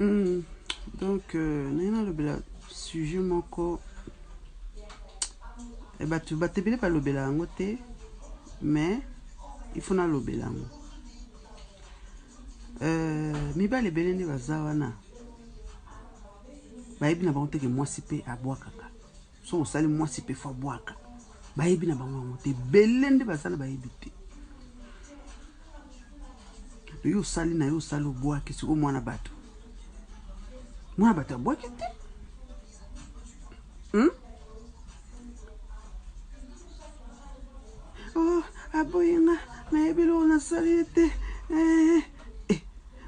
Mm. donc euh, naye nalobela sujet moko eh, bato bato ebele balobela yango te mais il faut nalobela yango Euh, mibali ebele nde baza wana bayebi na bango teke mwasi mpe abwakaka soki osali mwasi mpe fo abwaka bayebi na bango yango te ebele nde baza na bayebi te yo osali na yo osali obwaki sikoyo mwana bato mwana bato abwaki te hmm? oh, aboyi nga nayebi eloko nasali ye te eh, eh,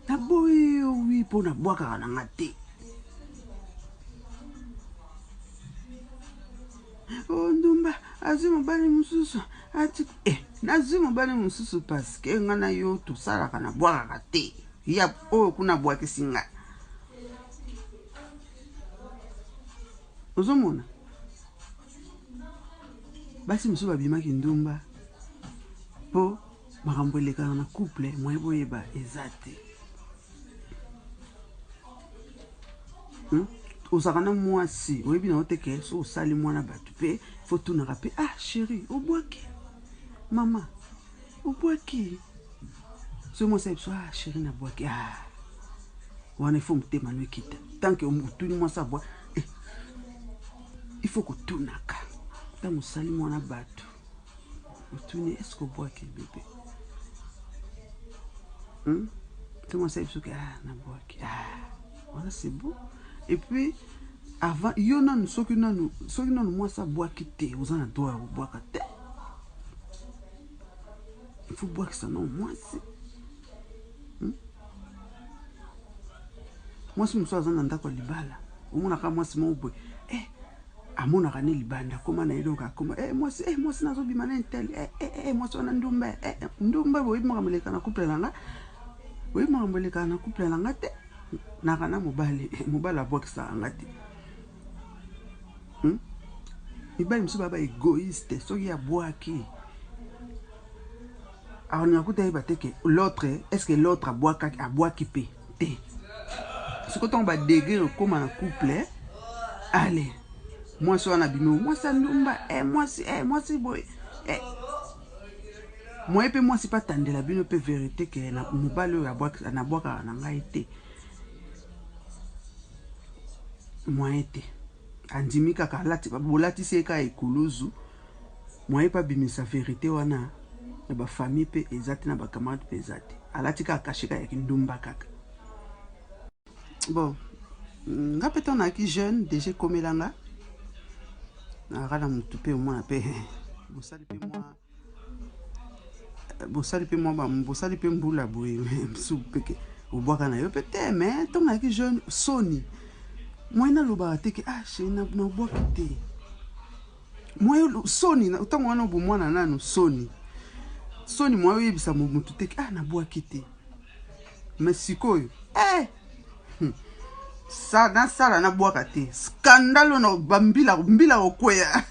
naboyi yo wi mpo nabwakaka na nga te o oh, ndumba azwi mobali mosusu ati eh, nazwi mobali mosusu paske nga na yo tosalaka nabwakaka te ya oyo kuna abwakisi ngai ozomona basi mosusu babimaki ndumba mpo makambo elekaka na couple moye boyeba eza te hmm? ozalaka na mwasi oyebi na yo te ke so osali mwana bato mpe fotunaka mpe ah sheri obwaki mama obwaki soki mwasi ya biso ah sheri na bwaki ah wana ifo motema no ekita tanke otuni mwasi abwa eh. ifo kotunaka ntango osali mwana bato otuni eske obwaki bebe hmm? to mwasi ya biso ke ah na bwaki ah Voilà c'est bon. Et puis avant yo nanu soki nanu soki nanu mwasi abwaki te oza na droit ya kobwaka te ifo bwakisa nao mwasi hmm? mwasi mosusu aza na ndako ya libala omonaka mwasi moko boye eh, amonaka ne libanda akoma na ye donc akoma eh, mwasi eh, mwasi nazobima na intel eh, eh, eh, mwasi wana ndumba eh, eh, ndumba boyebi makambo elekana couple na nga boyebi makambo elekana na couple na nga te Naka na mobali, mobali abwakisaka nga te. Hmm? Mibali mosusu baba egoïste, soki abwaki akolinga kuta yeba te ke l'autre est ce que l'autre abwakaki abwaki mpe te siko ntango badegre ekoma na couple ale mwasi wana abimi mwasi andumba eh, mwasi eh, mwasi boye eh. Moyen pe mwasi pe atandela bino pe verite ke na mobali oyo abwakisa na bwakaka na ngai te. Moyen te. Andimi kaka alati bolatisi ye kaka ekuluzu. Moyen pe abimisa verite wana na ba famille pe eza te na ba camarade pe eza te. Alati kaka cachet kaka ya kindumba kaka. bon nga mpe ntango nayaki jeune deja ekomela nga nayaka na motu mpe omona mpe bosali mpe mwa bosali mpe mwa bosali mpe mbula boye mosusu mpeke obwaka na yo mpe te me ntango nayaki jeune soni moye nalobaka te ke ah sheri nabwaki te moye soni ntango wana obomwana nanu soni soni moye oyebisa motu te ke ah nabwaki te mais sikoyo eh! Hmm. sa nasala nabwaka te skandalo na bambila mbila kokweya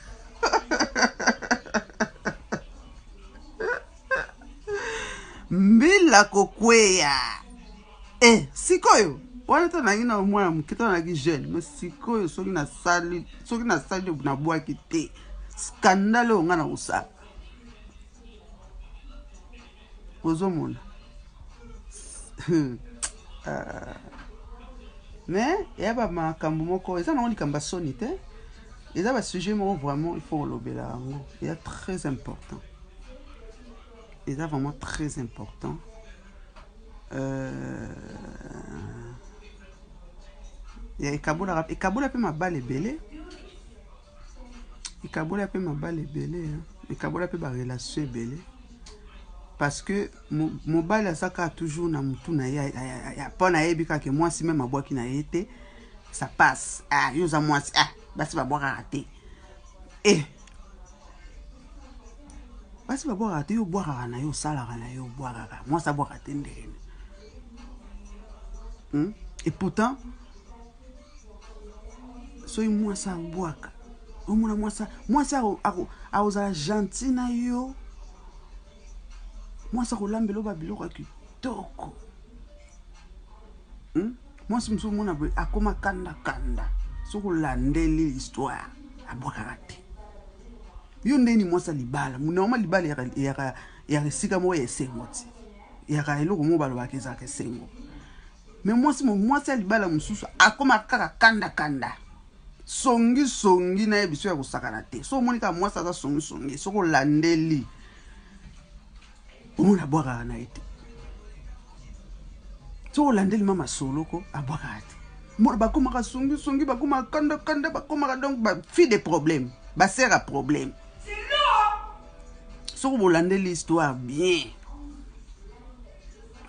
mbila kokweya e eh, sikoyo wana to nangi na mwana moke to nangi jeune me sikoyo soki nasali soki nasali nabwaki te skandale oyo ngai na kosala ozomona ah. mais eya bamakambo moko eza nango likambo ya soni te eza basujet moko vraiment il faut kolobela yango eza très important eza vraiment très important euh, ekabolaka ekabola mpe mabala ebele ekabola mpe mabala ebele ekabola mpe barelation ebele parce que mobali aza kaka toujours na motu na ye mpo na yebi kaka ke mwasi meme abwaki na ye te ça passe ah yo oza mwasi ah basi babwakaka te eh basi babwakaka te yo obwakaka na yo osalaka na yo obwakaka mwasi abwaka te ndenge hmm? et pourtant soki mwasi abwaka omona mwasi mwasi akozala gentil na yo mwasi akolambela oba biloko ya kitoko hmm? mwasi mosusu omona boye akoma kandakanda soki olandeli histoire abwakaka te yo ndeni mwasi ya libala monama libala yaka esika moko ya esengo ti yaka eloko moko balobaka ezalaka esengo Mais mwasi mo mwasi ya libala mosusu akoma kaka kanda kanda songi songi na ye biso ya kosakana te so omoni kaka mwasi aza songi songi soki olandeli omoni abwakaka na ye te soki olandeli mama soloko abwakaka te mona bakomaka songi songi bakomaka kanda kanda bakomaka donc ba fille de problème basere ya problème soki bolandeli histoire bien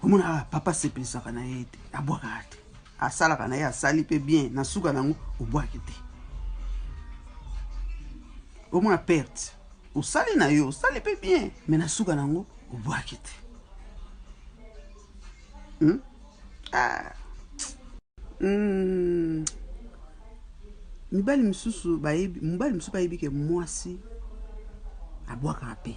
omonaka papa asepelisaka na ye te abwakaka te asalaka na ye asali mpe bien na suka na yango obwaki te omona perte osali na yo osali mpe bien me na suka na yango obwaki te hmm? ah. hmm. mibali mosusu bayebi mobali mosusu bayebi ke mwasi abwakaka mpe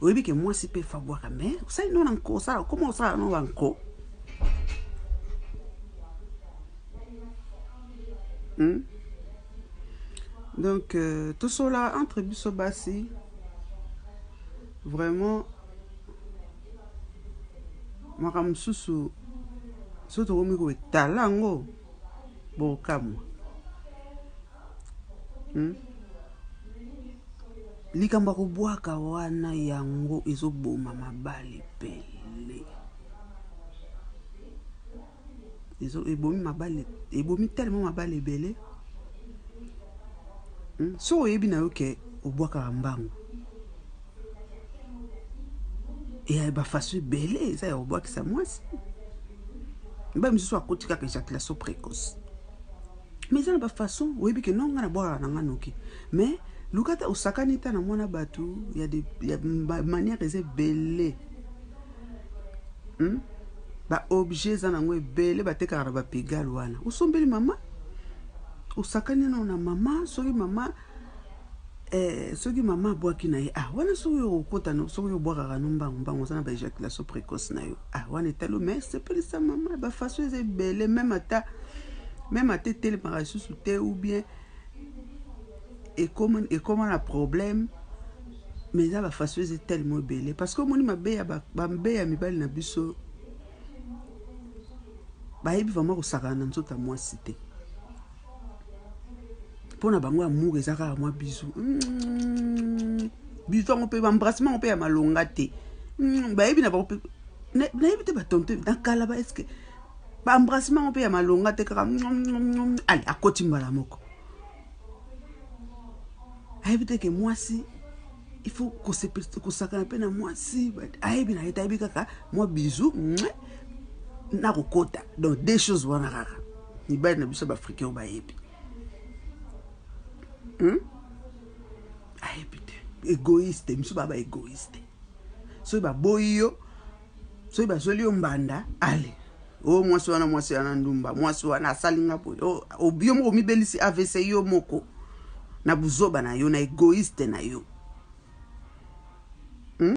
oyebi ke mwasi pe fabwaka me osali no na nko osala okoma osala no ba nko hmm? donc euh, tosola entre biso basi vraiment makambo mosusu soki tokomi koetala yango bokamwa Hmm? likambo ya kobwaka wana yango ezoboma mabali pele ezo ebomi mabali ebomi telema mabali ebele hmm? so oyebi na yo ke obwakaka mbangu eya bafaso ebele eza ya kobwakisa mwasi mibali mosusu akoti kaka ejaculation précoce mais eza na ba façon oyebi ke non nga na bwaka na nga noki mais luka ta osakani ta na mwana bato ya, de, ya manière eza ebele hmm? ba objet eza nango ebele batekaka na bapigal wana osombeli mama osakani nao na mama soki mama Eh, soki mama abwaki na ye ah, wana soki yo okota no soki yo obwakaka no mbangu mbangu oza na ba ejaculation précoce na yo ah, wana etalo mais sepelisa mama ba façon eza ebele meme ata meme ata etelemaka lisusu te ou bien ekoma ekoma na problème mais eza ba façon eza tellement ebele parce que omoni mabe ya bambe ya mibali na biso bayebi vraiment kosakana na nzoto ya mwasi te mpo na bango amour eza kaka mwa bizu mm. bizu yango mpe bambrasement yango mpe ya malonga te mm, bayebi na bango mpe nayebi te batonto na kala ba eske bambrasement yango mpe ya malonga te kaka mm, ale akoti mbala moko ayebi te ke mwasi il faut kosakana mpe na mwasi ayebi na ye te ayebi kaka mwa bizu na kokota donc deux choses wana kaka mibali na biso baafricain oyo bayebi hmm? ayebi te egoïste misu baa baegoïste soki baboyi yo soki bazweli yo mbanda ale o oh, mwasi wana mwasi wana ndumba mwasi wana asali nga boye oh, oh, yo moko omibelisi avc yo moko na buzoba na yo na egoiste na yo hmm?